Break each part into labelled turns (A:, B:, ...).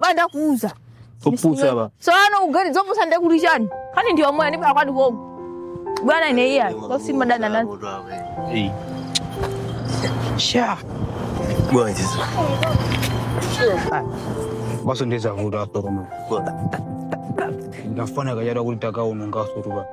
A: banda kuuza Opusa ba.
B: tsopano ugeri zopusa
A: nde kuli chani kani ndiwe moya ndipaka kwani komo bwana ine iya osima dana nani
B: Hey. Sha. Bwana
C: Yesu.
B: Basi ndiza vuta hapo kama. Ndafanya kajara kulitaka unonga suruba.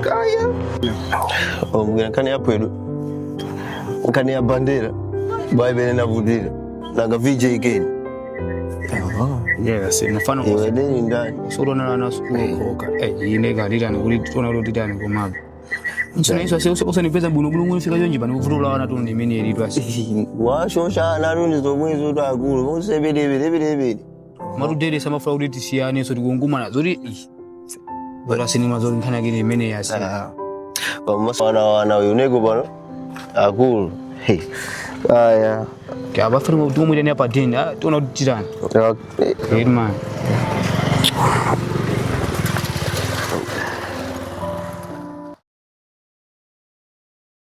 C: kaya omvera nkhani yaphwedwa nkhani ya bandera baibele ndavutira nanga VJ Ken yes
B: mfano iwe deni ndani
C: ndathana nayo
B: sukulu koka eh ine kalita nikuli tiona kuti titani komabe Msana Yesu asiye usandipeza bwino bwino ngoni fika yonje bana kuvutula wana tu ndimene yelitwa washoshana
C: nane zomwezo takulu usebelebelebelebele amatero
B: dere samafuna kuti tisiyanenso tikungumana zoti ish, bora sinema zoti nkhani yake ndi imene yasi Ah. pamaso wana
C: wana uyu neko pano akulu Hey. aya
B: akufunika kuti mumuyitane apa deni ah, tiona kuti titani
C: Okay.
B: Great man.